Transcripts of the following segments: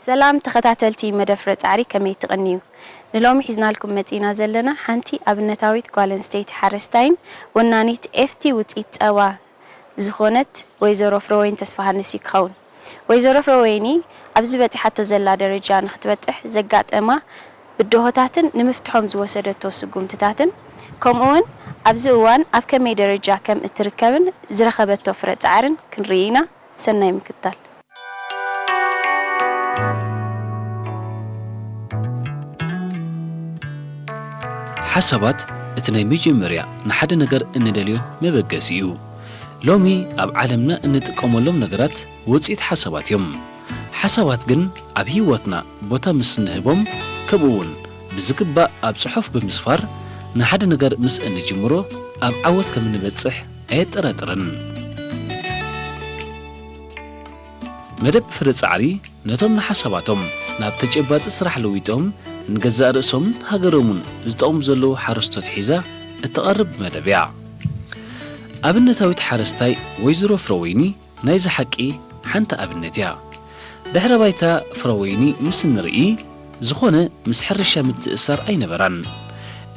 ሰላም ተኸታተልቲ መደብ ፍረ ጻዕሪ ከመይ ትቕንዩ? ንሎሚ ሒዝናልኩም መጺእና ዘለና ሓንቲ ኣብነታዊት ጓል ኣንስተይቲ ሓረስታይን ወናኒት ኤፍቲ ውጽኢት ጸባ፣ ዝኾነት ወይዘሮ ፍረወይኒ ተስፋሃንስ እዩ ክኸውን። ወይዘሮ ፍረወይኒ ኣብዚ በጺሓቶ ዘላ ደረጃ ንኽትበጽሕ ዘጋጠማ ብደሆታትን ንምፍትሖም ዝወሰደቶ ስጉምትታትን ከምኡ'ውን ኣብዚ እዋን ኣብ ከመይ ደረጃ ከም እትርከብን ዝረኸበቶ ፍረ ጻዕርን ክንርኢ ኢና። ሰናይ ምክታል። ሓሳባት እቲ ናይ መጀመርያ ንሓደ ነገር እንደልዮ መበገሲ እዩ። ሎሚ ኣብ ዓለምና እንጥቀመሎም ነገራት ውጽኢት ሓሳባት እዮም። ሓሳባት ግን ኣብ ህይወትና ቦታ ምስ እንህቦም ከምኡ እውን ብዝግባእ ኣብ ጽሑፍ ብምስፋር ንሓደ ነገር ምስ እንጅምሮ ኣብ ዓወት ከም እንበጽሕ ኣየጠራጥርን። መደብ ፍረ ጻዕሪ ነቶም ንሓሳባቶም ናብ ተጨባጢ ስራሕ ለዊጦም ንገዛእ ርእሶምን ሃገሮምን ዝጠቕሙ ዘለዉ ሓረስቶት ሒዛ እትቐርብ መደብ እያ። ኣብነታዊት ሓረስታይ ወይዘሮ ፍረወይኒ ናይዚ ሓቂ ሓንቲ ኣብነት እያ። ድሕረ ባይታ ፍረወይኒ ምስ እንርኢ ዝኾነ ምስ ሕርሻ ምትእስሳር ኣይነበራን።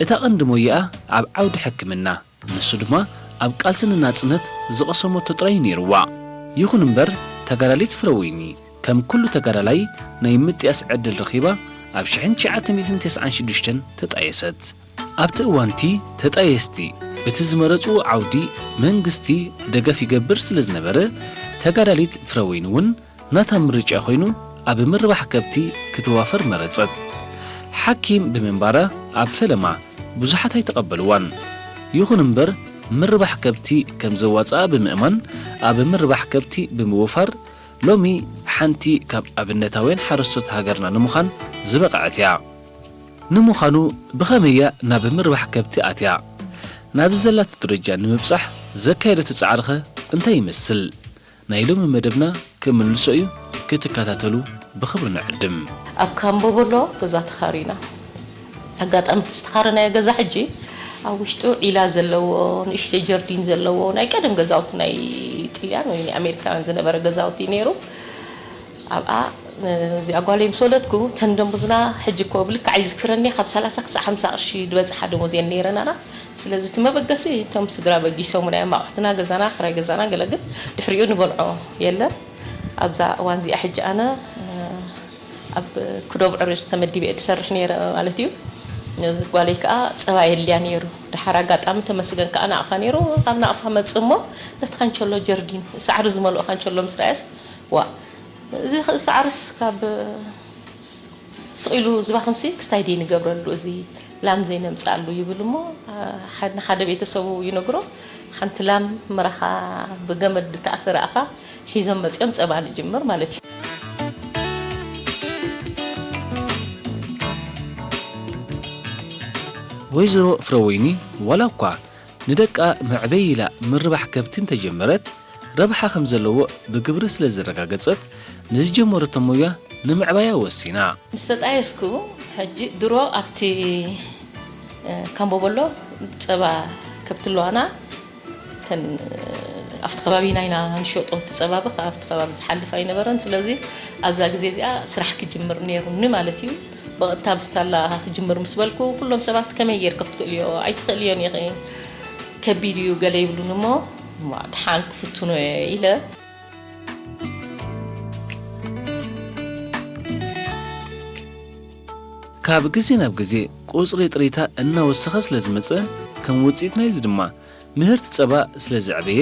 እታ ቀንዲ ሞያኣ ኣብ ዓውዲ ሕክምና፣ ንሱ ድማ ኣብ ቃልሲ ንናጽነት ዝቐሰመቶ ጥራይ እዩ ነይሩዋ። ይኹን እምበር ተጋዳሊት ፍረወይኒ ከም ኩሉ ተጋዳላይ ናይ ምጥያስ ዕድል ረኺባ ኣብ ሽሕን ትሽዓተ ሚእትን ተስዓን ሽዱሽተን ተጣየሰት። ኣብቲ እዋንቲ ተጣየስቲ በቲ ዝመረጽዎ ዓውዲ መንግስቲ ደገፍ ይገብር ስለ ዝነበረ ተጋዳሊት ፍረወይኒ እውን ናታ ምርጫ ኮይኑ ኣብ ምርባሕ ከብቲ ክተዋፈር መረጸት። ሓኪም ብምንባራ ኣብ ፈለማ ብዙሓት ኣይተቐበልዋን። ይኹን እምበር ምርባሕ ከብቲ ከም ዘዋጽኣ ብምእማን ኣብ ምርባሕ ከብቲ ብምውፋር ሎሚ ሓንቲ ካብ ኣብነታውያን ሓረስቶት ሃገርና ንምዃን ዝበቐዐት እያ። ንምዃኑ ብኸመይ እያ ናብ ምርባሕ ከብቲ ኣትያ? ናብዚ ዘላቶ ደረጃ ንምብጻሕ ዘካየደቶ ጻዕሪኸ እንታይ ይመስል? ናይ ሎሚ መደብና ክምልሶ እዩ ክትከታተሉ ብኽብሪ ንዕድም። ኣብ ካምቦቦሎ ገዛ ተኻሪና። ኣጋጣሚ እቲ ዝተኻረናዮ ገዛ ሕጂ ኣብ ውሽጡ ዒላ ዘለዎ ንእሽተይ ጀርዲን ዘለዎ ናይ ቀደም ገዛውቲ ናይ ጥልያን ወይ ናይ ኣሜሪካውያን ዝነበረ ገዛውቲ እዩ ነይሩ። ኣብኣ እዚኣ ጓለይ ምስ ወለድኩ እተን ደሞዝና ሕጂ እኮ ብልክዕ ኣይዝክረን'የ ካብ ሰላሳ ክሳዕ ሓምሳ ቅርሺ ድበጽሓ ደሞዝ እየን ነይረናና ስለዚ እቲ መበገሲ እቶም ስድራ በጊሶሙና እዮም ኣቑሑትና ገዛና ክራይ ገዛና ገለ ግን ድሕሪኡ ንበልዖ የለን ኣብዛ እዋን እዚኣ ሕጂ ኣነ ኣብ ክዶብ ዕርር ተመዲበ እየ ድሰርሕ ነይረ ማለት እዩ ጓለይ ከኣ ጸባ የድልያ ነይሩ ደሓር ኣጋጣሚ ተመስገን ከኣ ናቕፋ ነይሩ ካብ ናቕፋ መጽእ እሞ ነቲ ካንቸሎ ጀርዲን ሳዕሪ ዝመልኦ ካንቸሎ ምስ ረኣየስ ዋእ እዚ ክእ ሳዕርስ ካብ ስቅ ኢሉ ዝባክንሲ ክስታይ ድዪ ንገብረሉ እዚ ላም ዘይነምጽኣሉ ይብል እሞ ንሓደ ቤተሰቡ ይነግሮ ሓንቲ ላም ምራኻ ብገመድ ድተኣሰረ ኣፋ ሒዞም መጽዮም ጸባ ንጅምር ማለት እዩ። ወይዘሮ ፍረወይኒ ዋላ እኳ ንደቃ መዕበዪ ኢላ ምርባሕ ከብቲ እንተጀመረት፣ ረብሓ ከም ዘለዎ ብግብሪ ስለ ዘረጋገጸት፣ ንዝጀመረቶ ሞያ ንምዕባያ ወሲና። ምስ ተጣየስኩ፣ ሕጂ ድሮ ኣብቲ ካምቦቦሎ ጸባ ከብቲ ኣለዋና፣ እተን ኣብቲ ከባቢና ኢና ንሸጦ፣ እቲ ጸባ ብኽ ኣብቲ ከባቢ ዝሓልፍ ኣይነበረን፣ ስለዚ ኣብዛ ግዜ እዚኣ ስራሕ ክጅምር ነይሩኒ ማለት እዩ። ብቐጥታ ብስታላ ክጅምር ምስ በልኩ፣ ኩሎም ሰባት ከመይ ጌርኪ ክትክእልዮ፣ ኣይትኽእልዮን ኢኺ፣ ከቢድ እዩ ገለ ይብሉኒ እሞ፣ ድሓን ክፍትኖ እየ ኢለ። ካብ ግዜ ናብ ግዜ ቁጽሪ ጥሪታ እናወሰኸ ስለ ዝመጸ፣ ከም ውጽኢት ናይዚ ድማ ምህርቲ ጸባ ስለ ዝዕበየ፣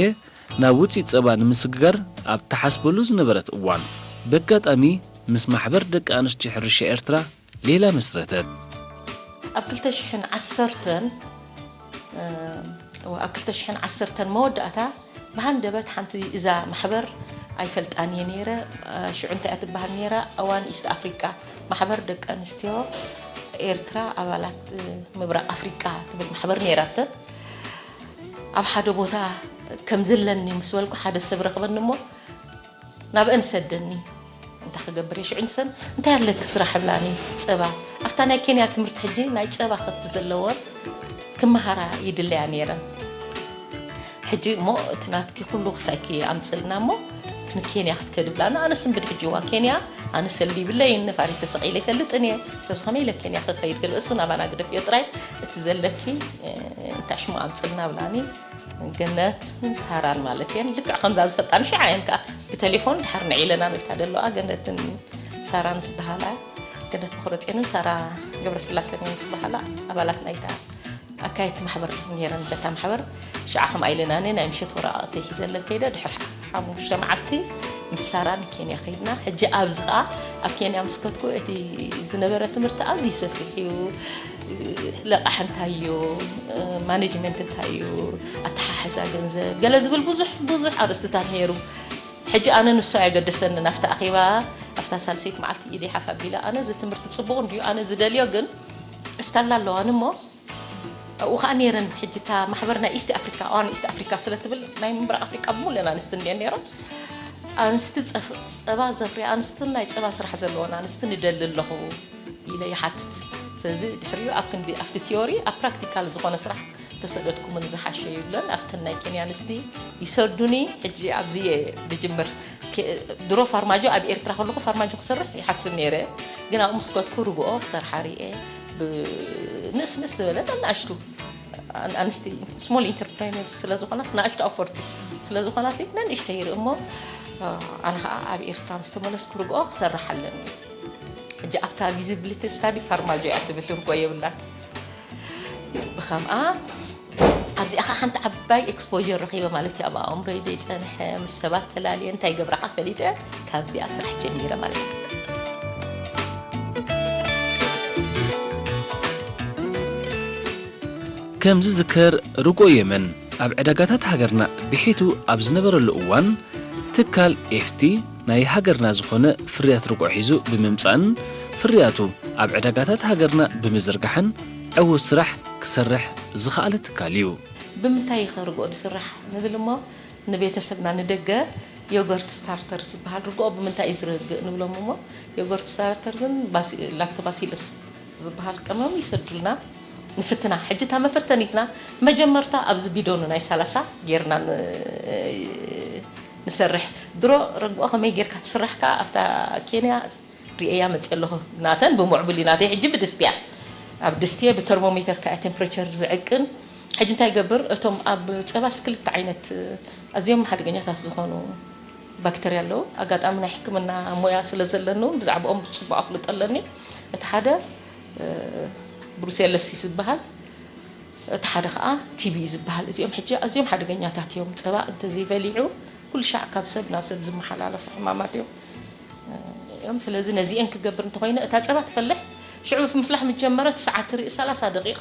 ናብ ውጽኢት ጸባ ንምስግጋር ኣብ ትሓስበሉ ዝነበረት እዋን፣ በጋጣሚ ምስ ማሕበር ደቂ ኣንስትዮ ሕርሻ ኤርትራ ሌላ መስረተት። ኣብ ክልተ ሽሕን ዓሰርተን እወ ኣብ ክልተ ሽሕን ዓሰርተን መወዳእታ ብሃንደበት ሓንቲ እዛ ማሕበር ኣይፈልጣን እየ ነይረ ሽዑ እንታይ እያ ትበሃል ነይራ እዋን ኢስት ኣፍሪቃ ማሕበር ደቂ ኣንስትዮ ኤርትራ ኣባላት ምብራቕ ኣፍሪቃ ትብል ማሕበር ነይራተን ኣብ ሓደ ቦታ ከም ዘለኒ ምስ በልኩ ሓደ ሰብ ረኽበኒ እሞ ናብእን ሰደኒ እንታይ ክገብር እየ ሽዑ ንሰን እንታይ ኣለኪ ስራሕ እብላኒ ፀባ ኣብታ ናይ ኬንያ ትምህርቲ ሕጂ ናይ ፀባ ከብቲ ዘለወን ክመሃራ ይድለያ ነይረን ሕጂ እሞ እቲ ናትኪ ኩሉ ክሳይኪ ኣምፅልና እሞ ንኬንያ ክትከዲ ብላና ኣነስ እንብድ ሕጂ እዋ ኬንያ ኣነ ሰሊ ይብለይን ነፋሪ ተሰቂለ ይፈልጥን እየ ሰብዚ ከመይ ኢለ ኬንያ ክኸይድ ክል እሱ ናባና ግደፍዮ ጥራይ እቲ ዘለኪ እንታይ ሽሙ ኣምፅልና ብላኒ ገነት ምስ ሃራን ማለት እየን ልክዕ ከምዛ ዝፈልጣን ሽዓ እየን ከዓ ብቴሌፎን ድሓር ንዕ ኢለና ንታ ደለዋ ገነትን ሳራን ዝበሃላ ገነት መክረፅንን ሳራ ገብረስላሰን እየን ዝበሃላ ኣባላት ናይታ ኣካየድቲ ማሕበር ነረን በታ ማሕበር ሽዓ ከምኣ ኢለና እነ ናይ ምሸት ወረቃቅቲ ሒዘለን ከይደ ድሕር ሓሙሽተ መዓልቲ ምስ ሳራ ንኬንያ ከይድና ሕጂ ኣብዚ ከዓ ኣብ ኬንያ ምስ ከትኩ እቲ ዝነበረ ትምህርቲ ኣዝዩ ሰፊሕ እዩ ለቓሕ እንታይ እዩ፣ ማኔጅመንት እንታይ እዩ፣ ኣተሓሕዛ ገንዘብ ገለ ዝብል ብዙሕ ብዙሕ ኣርእስትታት ነይሩ። ሕጂ ኣነ ንሱ ኣየገደሰንን። ኣብቲ ኣኼባ ኣብታ ሳልሰይቲ መዓልቲ ኢደይ ሓፍ ኣቢለ ኣነ እዚ ትምህርቲ ጽቡቕ እንድዩ፣ ኣነ ዝደልዮ ግን እስታላ ኣለዋኒ እሞ ኣብኡ ከዓ ነይረን ሕጂ እታ ማሕበር ናይ ኢስት ኣፍሪካ ዋን ኢስት ኣፍሪካ ስለትብል ናይ ምብራቕ ኣፍሪካ ብሙሉኤን ኣንስቲ እንድየን ነይረን ኣንስቲ ጸባ ዘፍርያ ኣንስትን ናይ ጸባ ስራሕ ዘለዎን ኣንስቲ ንደሊ ኣለኹ ኢለ ይሓትት። ስለዚ ድሕሪኡ ኣብ ክንዲ ኣብቲ ቲዮሪ ኣብ ፕራክቲካል ዝኾነ ስራሕ ተሰደድኩምኒ ዝሓሸ እዩ ይብለን። ኣብተን ናይ ኬንያ ኣንስቲ ይሰዱኒ። ሕጂ ኣብዚ እየ ዝጅምር። ድሮ ፋርማጆ ኣብ ኤርትራ ከለኹ ፋርማጆ ክሰርሕ ይሓስብ ነይረ። ግን ኣብኡ ምስ ከድኩ ርግኦ ክሰርሓ ርእየ። ብንእስንእስ ዝበለ ነናእሽቱ ኣንስቲ ስሞል ኢንተርፕረነር ስለ ዝኾናስ ንኣሽቱ ኣፈርቲ ስለ ዝኾናሲ ነንእሽተይ ይርኢ እሞ ኣነ ከዓ ኣብ ኤርትራ ምስ ተመለስኩ ርግኦ ክሰርሕ ኣለኒ ሕጂ ኣብታ ቪዚብሊቲ ስታዲ ፋርማጆ እያ ትብል ርጎ የብላን ብከምኣ ኣብዚኣ ከዓ ሓንቲ ዓባይ ኤክስፖዠር ረኪበ ማለት እዩ ኣብ ኣእምሮይ ዘይፀንሐ ምስ ሰባት ተላልየ እንታይ ገብራ ከዓ ፈሊጠ ካብዚኣ ስራሕ ጀሚረ ማለት እዩ ከም ዝዝከር ርጎ የመን ኣብ ዕዳጋታት ሃገርና ብሒቱ ኣብ ዝነበረሉ እዋን ትካል ኤፍቲ ናይ ሃገርና ዝኾነ ፍርያት ርግኦ ሒዙ ብምምጻእን ፍርያቱ ኣብ ዕዳጋታት ሃገርና ብምዝርጋሕን ዕዉት ስራሕ ክሰርሕ ዝኸኣለ ትካል እዩ። ብምንታይ'ኸ ርግኦ ዝስራሕ ንብል እሞ ንቤተሰብና ንደገ ዮገርት ስታርተርስ ዝበሃል ርግኦ ብምንታይ እዩ ዝረግእ ንብሎም እሞ ዮገርት ስታርተር ግን ላክቶባሲለስ ዝበሃል ቀመም ይሰዱልና ንፍትና ሕጂ እታ መፈተኒትና መጀመርታ ኣብዚ ቢዶኑ ናይ ሰላሳ ጌርና ንሰርሕ ድሮ ረግኦ ከመይ ጌርካ ትስራሕ ከኣ ኣብታ ኬንያ ሪኤያ መጺኤ ኣለኩ ናተን ብሙዕቡል እዩ ናተይ ሕጂ ብድስቲ እያ ኣብ ድስቲ እየ ብተርሞሜተር ከኣ እየ ቴምፕሬቸር ዝዕቅን ሕጂ እንታይ ይገብር እቶም ኣብ ጸባስ ክልተ ዓይነት ኣዝዮም ሓደገኛታት ዝኮኑ ባክተርያ ኣለዉ ኣጋጣሚ ናይ ሕክምና ሞያ ስለ ዘለኒ ውን ብዛዕብኦም ብጽቡቅ ኣፍልጦ ኣለኒ እቲ ሓደ ብሩሴለሲስ ዝበሃል እቲ ሓደ ከኣ ቲቢ እዩ ዝበሃል። እዚኦም ሕጂ ኣዝዮም ሓደገኛታት እዮም። ጸባ እንተዘይበሊዑ ኩሉ ሻዕ ካብ ሰብ ናብ ሰብ ዝመሓላለፉ ሕማማት እዮም። ስለዚ ነዚኤን ክገብር እንተኾይነ እታ ጸባ ትፈልሕ ሽዑ ምፍላሕ ምስ ጀመረት ሰዓት ትርኢ ሰላሳ ደቂቅ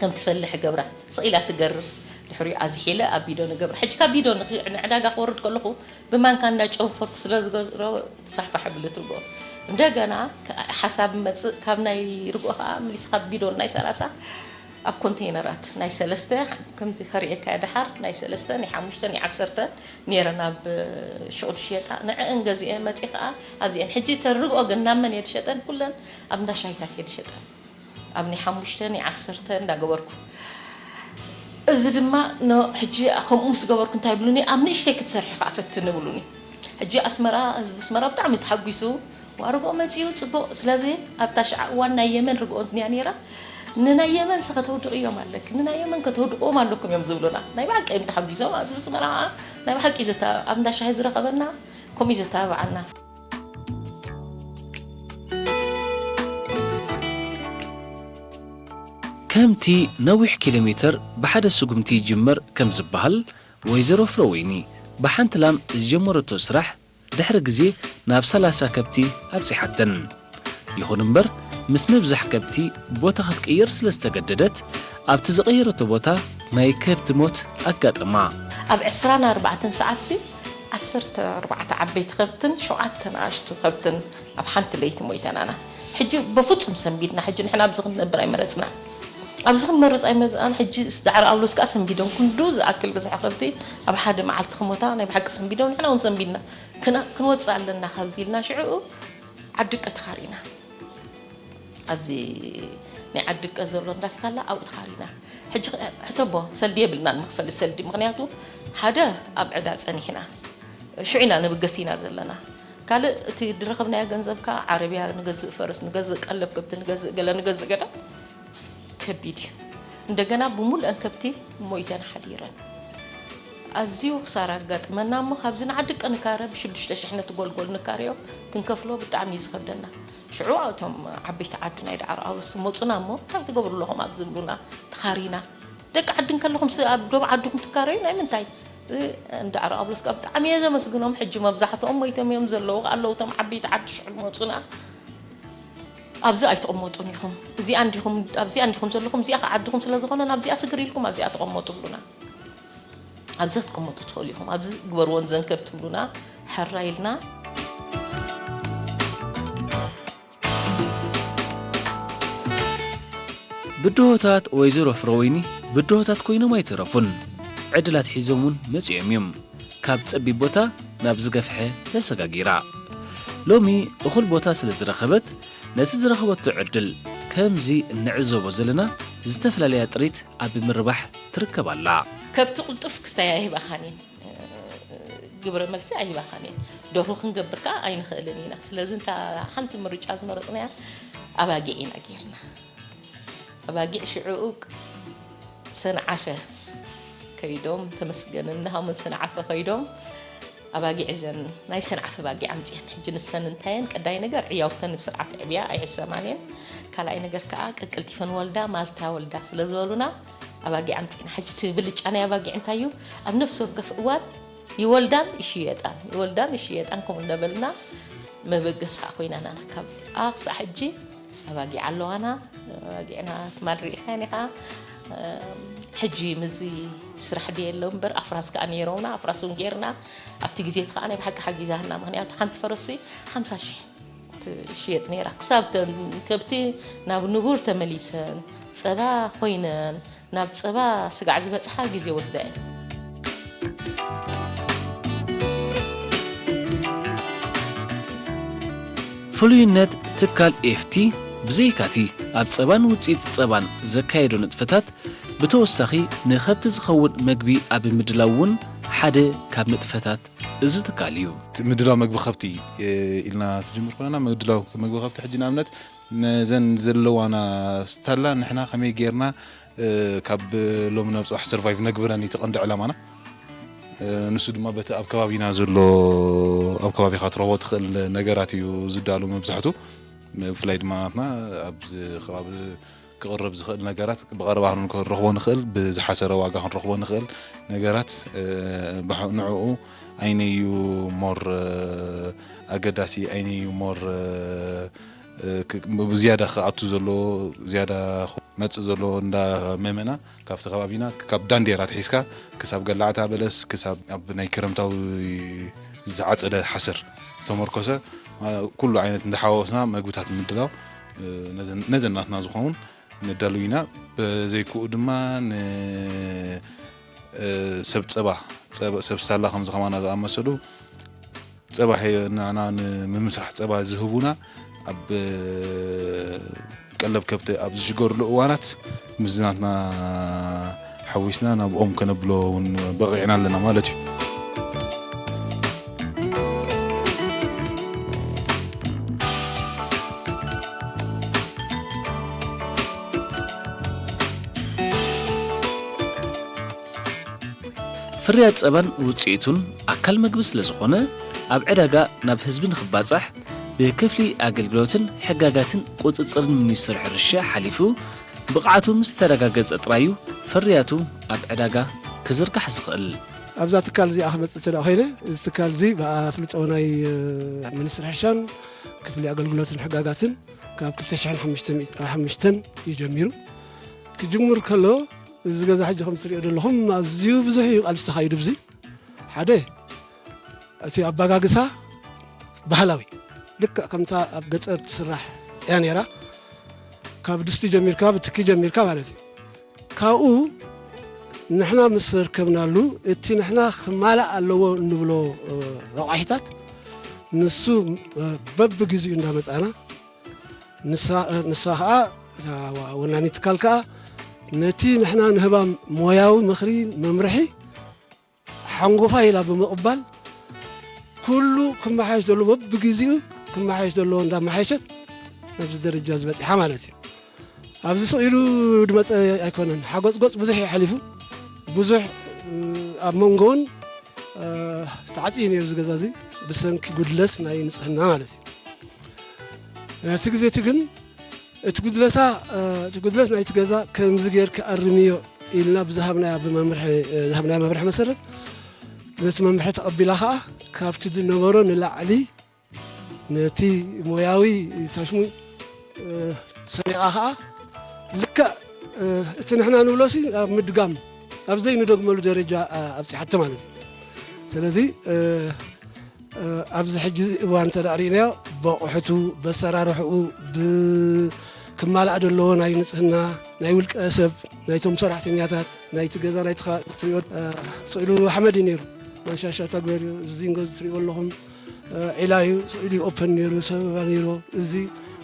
ከም ትፈልሕ እገብራ። ስቅ ኢላ ትገርር ድሕሪኡ ኣዝሒለ ኣብ ቢዶን እገብራ። ሕጂ ካብ ቢዶን ንዕዳጋ ክወርድ ከለኹ ብማንካ እንዳ ጨውፈርኩ ስለ ዝገዝሮ፣ ፋሕፋሕ ኣብልትዎ እንደገና ሓሳብ መፅእ ካብ ናይ ርግኦ ከዓ ምሊስ ካብ ቢዶን ናይ ሰላሳ ኣብ ኮንቴይነራት ናይ ሰለስተ ከምዚ ከርእየካ ደሓር ናይ ሰለስተ ናይ ሓሙሽተ ናይ ዓሰርተ ነይረን ኣብ ሹቕ ድሽየጣ ንዕእን ገዚኤ መፅእ ከዓ ኣብዚኤን ሕጂ ተን ርግኦ ግን ናብ መን እየ ድሸጠን ኩለን ኣብ እንዳሻሂታት እየ ድሸጠን ኣብ ናይ ሓሙሽተ ናይ ዓሰርተ እንዳገበርኩ እዚ ድማ ን ሕጂ ከምኡ ምስ ገበርኩ እንታይ ይብሉኒ ኣብ ንእሽተይ ክትሰርሒ ከኣ ፈትኒ ይብሉኒ ሕጂ ኣስመራ ህዝቢ ኣስመራ ብጣዕሚ ተሓጒሱ ዋእ ርግኦ መጺኡ ጽቡቕ ስለዚ ኣብታ ሽዓ እዋን ናይ የመን ርግኦ ድያ ነይራ ንናይ የመንሲ ከተውድቕዮም ኣለኪ ንናይ የመን ከተውድቕዎም ኣለኩም እዮም ዝብሉና ናይ ብሓቂ እዮም ተሓጒሶም ኣብዚ ኣስመራ ከኣ ናይ ብሓቂ እዩ ዘተ ኣብ እንዳ ሻሂ ዝረኸበና ከምኡ እዩ ዘተባብዓና ከምቲ ነዊሕ ኪሎሜተር ብሓደ ስጉምቲ ይጅመር ከም ዝበሃል፣ ወይዘሮ ፍረወይኒ ብሓንቲ ላም ዝጀመረቶ ስራሕ ድሕሪ ግዜ ናብ ሰላሳ ከብቲ ኣብጺሓተን። ይኹን እምበር ምስ ምብዛሕ ከብቲ ቦታ ክትቅይር ስለ ዝተገደደት፣ ኣብቲ ዝቐየረቶ ቦታ ናይ ከብቲ ሞት ኣጋጠማ። ኣብ ዕስራን ኣርባዕተን ሰዓትሲ ዓሰርተ ኣርባዕተ ዓበይቲ ከብትን ሸውዓተ ንኣሽቱ ከብትን ኣብ ሓንቲ ለይቲ ሞይተን ኣና ሕጂ በፉጹም ሰንቢድና ሕጂ ንሕና ኣብዚ ክንነብር ኣይመረጽናን ኣብዚ ክንመርጽ ኣይመዝኣን ሕጂ ዳዕሮ ኣውሎስ ከኣ ሰንቢዶም ክንዱ ዝኣክል ብዝሒ ከብቲ ኣብ ሓደ መዓልቲ ክሞታ ናይ ብሓቂ ሰንቢዶም ንሕና እውን ሰንቢድና ክንወጽእ ኣለና ካብዚ ኢልና ሽዕኡ ዓድቀ ተኻሪና ኣብዚ ናይ ዓድቀ ዘሎ እንዳስታላ ኣብኡ ተኻሪና ሕጂ ሕሰቦ ሰልዲ የብልናን መኽፈሊ ሰልዲ ምኽንያቱ ሓደ ኣብ ዕዳ ጸኒሕና ሽዑ ኢና ንብገስ ኢና ዘለና ካልእ እቲ ዝረኸብናዮ ገንዘብ ከኣ ዓረብያ ንገዝእ ፈረስ ንገዝእ ቀለብ ከብቲ ንገዝእ ገለ ንገዝእ ገለ ከቢድ እዩ እንደገና ብሙሉአን ከብቲ ሞይተን ሓዲረን ኣዝዩ ክሳራ ኣጋጥመና እሞ ካብዚ ንዓዲ ቀንካረ ብሽዱሽተ ሽሕ ነቲ ጎልጎል ንካረዮ ክንከፍሎ ብጣዕሚ እዩ ዝኸብደና ሽዑ እቶም ዓበይቲ ዓዲ ናይ ደዓሮ ኣውርስ መጹና እሞ እንታይ ትገብሩ ኣለኹም ኣብዚ ይብሉና ተኻሪና ደቂ ዓዲ እንከለኹምስ ኣብ ዶብ ዓድኹም ትካረዩ ናይ ምንታይ ንደዓሮ ኣውርስ ከኣ ብጣዕሚ እየ ዘመስግኖም ሕጂ መብዛሕትኦም ሞይቶም እዮም ዘለዉ ኣለዉ እቶም ዓበይቲ ዓዲ ሽዑ መጹና ኣብዚ ኣይትቕመጡን ኢኹም እዚኣ እንዲኹም ኣብዚኣ እንዲኹም ዘለኹም እዚኣ ከ ዓድኹም ስለ ዝኾነ ናብዚኣ ስግር ኢልኩም ኣብዚኣ ተቐመጡ ብሉና ኣብዚ ክትቅምጡ ትኽእሉ ኢኹም ኣብዚ ግበርዎ ንዘንከብ ትብሉና ሕራይ ኢልና ብድሆታት ወይዘሮ ፍረወይኒ ብድሆታት ኮይኖም ኣይተረፉን። ዕድል ኣትሒዞም እውን መፂኦም እዮም። ካብ ፀቢብ ቦታ ናብ ዝገፍሐ ተሰጋጊራ። ሎሚ እኹል ቦታ ስለ ዝረኸበት ነቲ ዝረኸበቶ ዕድል ከምዚ እንዕዘቦ ዘለና ዝተፈላለያ ጥሪት ኣብ ምርባሕ ትርከብ ኣላ። ከብቲ ቅልጡፍ ክስታይ ኣይህባኻን እየን፣ ግብረ መልሲ ኣይህባኻን እየን። ደርሁ ክንገብር ከኣ ኣይንኽእልን ኢና። ስለዚ እንታ ሓንቲ ምርጫ ዝመረጽናያ ኣባጊዕ ኢና ጌርና። ኣባጊዕ ሽዕኡ ሰንዓፈ ከይዶም፣ ተመስገንን ናሆምን ሰንዓፈ ከይዶም ኣባጊዕ እዘን ናይ ሰንዓፈ ኣባጊዕ ኣምጺኤን። ሕጂ ንሰን እንታይ እየን? ቀዳይ ነገር ዕያውተን ብስርዓት የዕብያ፣ ኣይሕሰማን እየን። ካልኣይ ነገር ከኣ ቀቀልጢፈን ወልዳ ማልታ ወልዳ ስለ ዝበሉና፣ ኣባጊዕ ኣምጺእና ሕጂ እቲ ብልጫ ናይ ኣባጊዕ እንታይ እዩ ኣብ ነፍሲ ወከፍ እዋን ይወልዳን ይሽየጣን ይወልዳን ይሽየጣን ከምኡ እንዳበልና መበገሲ ከዓ ኮይናና ካብ ኣ ክሳዕ ሕጂ ኣባጊዕ ኣለዋና ኣባጊዕና ትማል ርኢኻያን ኢኻ ሕጂ ምዚ ስራሕ ድየ ኣሎ እምበር ኣፍራስ ከዓ ነይሮምና ኣፍራስ እውን ገይርና ኣብቲ ግዜ እቲ ከዓ ናይ ብሓቂ ሓጊዛና ምክንያቱ ሓንቲ ፈረሲ ሓምሳ ሽሕ ትሽየጥ ነይራ ክሳብ እተን ከብቲ ናብ ንቡር ተመሊሰን ፀባ ኮይነን ናብ ፀባ ስጋዕ ዝበፅሓ ግዜ ወስዳ እያ። ፍሉይነት ትካል ኤፍቲ ብዘይካ'ቲ ኣብ ፀባን ውፅኢት ፀባን ዘካየዶ ንጥፈታት ብተወሳኺ ንከብቲ ዝኸውን መግቢ ኣብ ምድላው እውን ሓደ ካብ ንጥፈታት እዚ ትካል እዩ። ምድላው መግቢ ከብቲ ኢልና ክጅምር ኮለና ምድላው መግቢ ከብቲ ሕጂ ንኣብነት ነዘን ዘለዋና ስታላ ንሕና ከመይ ጌርና ካብ ሎሚ ናብ ጽባሕ ሰርቫይቭ ነግብረን እዩ ተቐንዲ ዕላማና ንሱ ድማ በቲ ኣብ ከባቢና ዘሎ ኣብ ከባቢኻ ትረኽቦ ትኽእል ነገራት እዩ ዝዳሉ መብዛሕቱ ብፍላይ ድማ ናትና ኣብዚ ከባቢ ክቕረብ ዝኽእል ነገራት ብቐረባ ክንረኽቦ ንኽእል፣ ብዝሓሰረ ዋጋ ክንረኽቦ ንኽእል ነገራት ንዕኡ ኣይነዩ ሞር ኣገዳሲ ኣይነዩ ሞር ዝያዳ ክኣቱ ዘለዎ ዝያዳ ክመፅእ ዘለዎ እንዳመመና ካብቲ ከባቢና ካብ ዳንዴር ኣትሒዝካ ክሳብ ገላዕታ በለስ ክሳብ ኣብ ናይ ክረምታዊ ዝዓፀደ ሓሰር ዝተመርኮሰ ኩሉ ዓይነት እንዳሓዋወስና መግብታት ምድላው ነዘን ናትና ዝኸውን ነዳሉ ኢና በዘይክኡ ድማ ንሰብ ፀባ ሰብ ሳላ ከምዚ ከማና ዝኣመሰሉ ጸባ ሔይ ንኣና ንምምስራሕ ጸባ ዝህቡና ኣብ ቀለብ ከብቲ ኣብ ዝሽገርሉ እዋናት ምስዝናትና ሓዊስና ናብኦም ከነብሎ እውን በቒዕና ኣለና ማለት እዩ። ፍርያት ጸባን ውጽኢቱን ኣካል መግቢ ስለዝኾነ ኣብ ዕዳጋ ናብ ህዝቢ ንክባጻሕ ብክፍሊ ኣገልግሎትን ሕጋጋትን ቁጽጽርን ሚኒስትሪ ሕርሻ ሓሊፉ ብቕዓቱ ምስ ተረጋገጸ ጥራይ'ዩ ፍርያቱ ኣብ ዕዳጋ ክዝርጋሕ ዝኽእል። ኣብዛ ትካል እዚኣ ክመጽእ እንተድኣ ኮይነ፣ እዚ ትካል እዚ ብኣፍልጦ ናይ ሚኒስትሪ ሕርሻን ክፍሊ ኣገልግሎትን ሕጋጋትን ካብ ክልተ ሽሕን ሓሙሽተን ኢዩ ጀሚሩ። ክጅምር ከሎ እዚ ገዛ ሕጂ ከም ትሪኦ ዘለኹም ኣዝዩ ብዙሕ እዩ ቃልሲ ተኻይዱ ብዙ ሓደ እቲ ኣባጋግሳ ባህላዊ ልክዕ ከምታ ኣብ ገጠር ትስራሕ እያ ነይራ ካብ ድስቲ ጀሚርካ ብትኪ ጀሚርካ ማለት እዩ ካብኡ ንሕና ምስ ርከብናሉ እቲ ንሕና ክማላእ ኣለዎ እንብሎ ረቋሒታት ንሱ በብግዜኡ እንዳመፃና ንሳ ኸኣ እታ ወናኒ ትካል ከኣ ነቲ ንሕና ንህባ ሞያዊ ምኽሪ መምርሒ ሓንጎፋይ ኢላ ብምቕባል ኩሉ ክመሓየሽ ዘለዎ በብግዜኡ ክመሓየሽ ዘለዎ እንዳመሓየሸት ናብዚ ደረጃ እዚ በጺሓ ማለት እዩ። ኣብዚ ስቕ ኢሉ ዝመፀ ኣይኮነን። ሓጎፅጎፅ ብዙሕ እዩ ሓሊፉ። ብዙሕ ኣብ መንጎውን ተዓፅዩ ነይሩ እዚ ገዛ እዚ ብሰንኪ ጉድለት ናይ ንፅህና ማለት እዩ። ናይቲ ግዜ እቲ ግን እቲ ጉድለታ እቲ ጉድለት ናይቲ ገዛ ከምዚ ጌርካ ኣርምዮ ኢልና ብዝሃብናያ ብመምርሒ ዝሃብናያ መምርሒ መሰረት ነቲ መምርሒ ተቐቢላ ከዓ ካብቲ ዝነበሮ ንላዕሊ ነቲ ሞያዊ ታሽሙይ ሰሪቓ ኸኣ ልክዕ እቲ ንሕና ንብሎሲ ኣብ ምድጋም ኣብ ዘይንደግመሉ ደረጃ ኣብፅሓቶ ማለት እዩ ስለዚ ኣብዚ ሕጂ እዋን እንተ ርእናዮ በቑሕቱ በሰራርሕኡ ብክማላእ ዘለዎ ናይ ንፅህና ናይ ውልቀ ሰብ ናይቶም ሰራሕተኛታት ናይቲ ገዛ ናይቲ ትሪኦ ስእሉ ሓመድ እዩ ነይሩ ማሻሻ ተግበርዩ ዝዚንጎ ዝትሪእዎ ኣለኹም ዒላ እዩ ስዑዲ ኦፐን ነይሩ ሰበባ ነይሩ እዚ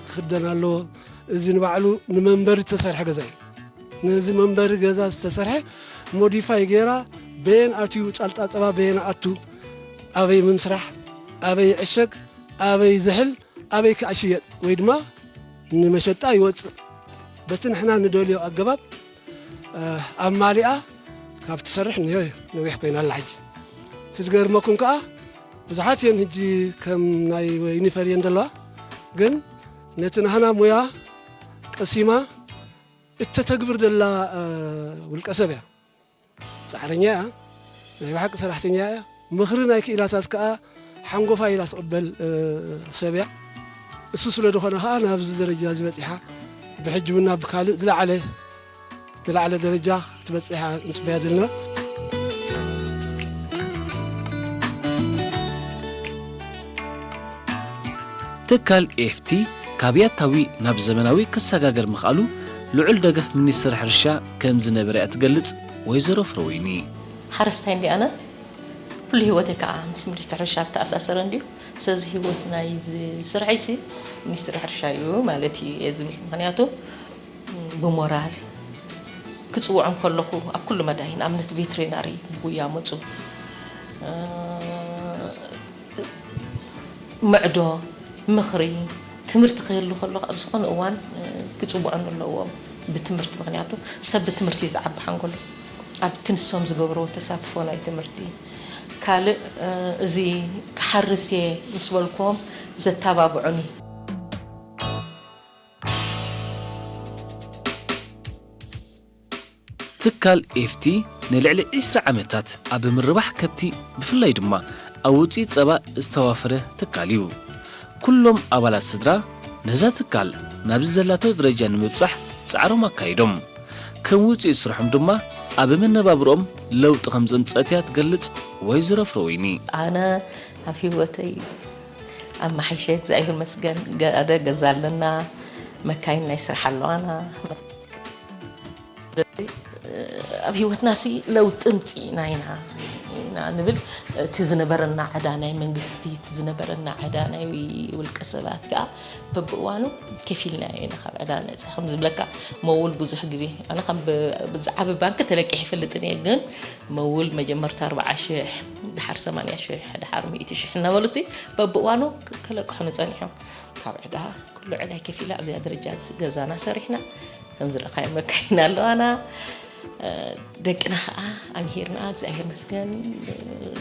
ክኽደን ኣለዎ እዚ ንባዕሉ ንመንበሪ ዝተሰርሐ ገዛ እዩ ነዚ መንበሪ ገዛ ዝተሰርሐ ሞዲፋይ ገይራ በየን ኣትዩ ጫልጣ ፀባ በየን ኣቱ ኣበይ ምምስራሕ ኣበይ ዕሸግ ኣበይ ዝሕል ኣበይ ከ ይሽየጥ ወይ ድማ ንመሸጣ ይወፅእ በቲ ንሕና ንደልዮ ኣገባብ ኣማሊኣ ካብ ትሰርሕ ንዮ ነዊሕ ኮይና ኣላ ሕጂ እቲ ዝገርመኩም ከዓ ብዙሓት እየን ሕጂ ከም ናይ ወይኒ ፈልየን ዘለዋ ግን ነቲ ናህና ሙያ ቀሲማ እተተግብር ደላ ውልቀ ሰብ እያ ጻዕረኛ እያ ናይ ብሓቂ ሰራሕተኛ እያ ምኽሪ ናይ ክኢላታት ከኣ ሓንጎፋይ ኢላ ትቕበል ሰብ እያ እሱ ስለ ዝኾነ ከኣ ናብዚ ደረጃ እዚ በጺሓ ብሕጂ እውን ናብ ካልእ ዝለዓለ ዝለዓለ ደረጃ ክትበጽሕ ንጽበያ ዘለና ትካል ኤፍቲ ካብ ያታዊ ናብ ዘመናዊ ክሰጋገር ምኽኣሉ ልዑል ደገፍ ሚኒስትሪ ሕርሻ ከም ዝነበረ'ያ ትገልጽ ወይዘሮ ፍረወይኒ። ሓረስታይ እንድየ ኣነ፣ ኩሉ ህይወተይ ከኣ ምስ ሚኒስትሪ ሕርሻ ዝተኣሳሰረ እንድዩ። ስለዚ ህይወት ናይዚ ስርሐይሲ ሚኒስትሪ ሕርሻ'ዩ ማለት እዩ እየ ዝብል። ምኽንያቱ ብሞራል ክጽውዖም ከለኹ ኣብ ኩሉ መዳይ ንኣብነት ቬትሪናሪ ብጉያ ምጹ፣ ምዕዶ፣ ምኽሪ፣ ትምህርቲ ክህሉ ከሎ ኣብ ዝኾነ እዋን ክጽውዑኒ ኣለዎም። ብትምህርቲ ምኽንያቱ ሰብ ብትምህርቲ እዩ ዝዓቢ ሓንጎሉ ኣብቲ ንሶም ዝገብርዎ ተሳትፎ ናይ ትምህርቲ ካልእ እዚ ክሓርስ እየ ምስ በልክዎም ዘታባብዑኒ። ትካል ኤፍቲ ንልዕሊ ዕስራ ዓመታት ኣብ ምርባሕ ከብቲ ብፍላይ ድማ ኣብ ውፅኢት ፀባ ዝተዋፈረ ትካል እዩ። ኩሎም ኣባላት ስድራ ነዛ ትካል ናብዚ ዘላቶ ደረጃ ንምብጻሕ ጻዕሮም ኣካይዶም። ከም ውጽኢት ስርሖም ድማ ኣብ መነባብርኦም ለውጢ ከም ዘምጽኣት እያ ትገልጽ ወይዘሮ ፍረወይኒ። ኣነ ኣብ ህይወተይ ኣመሓይሸ እግዛኣብሄር ይመስገን ገደ ገዛ ኣለና መካይን ናይ ስራሕ ኣለዋና። ስለዚ ኣብ ሂወትና ሲ ለውጢ ምጺኢና ኢና ኢና ንብል እቲ ዝነበረና ዕዳ ናይ መንግስቲ እቲ ዝነበረና ዕዳ ናይ ውልቀ ሰባት ከዓ በብእዋኑ ከፊልና ኢና ካብ ዕዳ ነፃ ከም ዝብለካ መውል ብዙሕ ግዜ ኣነ ከም ብዛዕቢ ባንኪ ተለቂሕ ይፈልጥን እየ ግን መውል መጀመርታ ኣርባዓ ሽሕ ድሓር ሰማንያ ሽሕ ድሓር ሚእቲ ሽሕ እናበሉ ሲ በብእዋኑ ከለቅሑኑ ፀኒሖም ካብ ዕዳ ኩሉ ዕዳይ ከፊላ ኣብዚኣ ደረጃ ገዛና ሰሪሕና ከም ዝረኣኻዮ መካይን ኣለዋና ደቅና ከዓ ኣምሂርና እግዚኣብሔር መስገን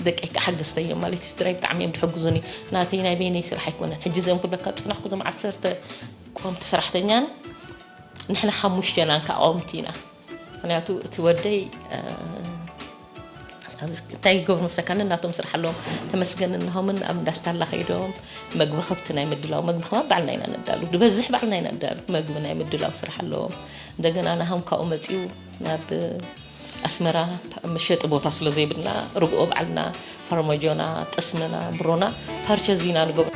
ደቂ ከዓ ሓገዝተዮም ማለት እዩ ስድራይ ብጣዕሚ እዮም ዝሕግዙኒ ናተይ ናይ በይነይ ስራሕ ኣይኮነን ሕጂ እዚኦም ኩለካ ፅናሕኩ ዞም ዓሰርተ ቆምቲ ሰራሕተኛን ንሕና ሓሙሽተና እንካ ቆምቲ ኢና ምክንያቱ እቲ ወደይ እንታይ ይገብሩ መስለካ ነናቶም ስራሕ ኣለዎም ተመስገን እንሆምን ኣብ እንዳ ስታላ ከይዶም መግቢ ከብቲ ናይ ምድላው መግቢ ከማ ባዕልና ኢና ነዳሉ ዝበዝሕ ባዕልና ኢና ነዳሉ መግቢ ናይ ምድላው ስራሕ ኣለዎም እንደገና ናሃም ካብኡ መፅኡ ናብ ኣስመራ መሸጢ ቦታ ስለ ዘይብልና ርግኦ ባዕልና ፋርማጆና ጠስምና ብሮና ፓርቸ ዚና ንገብሮ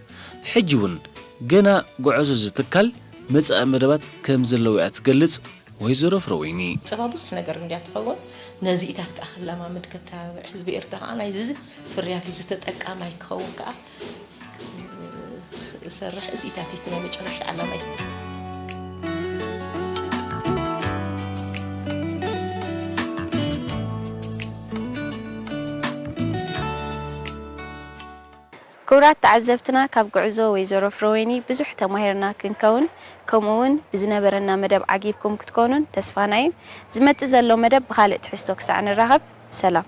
ሕጂ እውን ገና ጉዐዞ እዚ ትካል መጻኢ መደባት ከምዘለዎ'ያ ትገልጽ ወይዘሮ ፍረወይኒ። ጸባ ብዙሕ ነገር እንድያ ትኸውን፣ ነዚኢታት ከኣ ክለማመድ ከተባብዕ፣ ህዝቢ ኤርትራ ከኣ ናይዚ ፍርያት እዚ ተጠቃማይ ክኸውን ከኣ ክሰርሕ፣ እዚኢታት ኢዩ እቲ ናይ መጨረሻ ዕላማይ። ክብራት ተዓዘብትና ካብ ጉዕዞ ወይዘሮ ፍረወይኒ ብዙሕ ተማሂርና ክንከውን ከምኡ ውን ብዝነበረና መደብ ዓጊብኩም ክትኮኑን ተስፋና ዩ። ዝመጽእ ዘሎ መደብ ብኻልእ ትሕዝቶ ክሳዕ ንራኸብ ሰላም።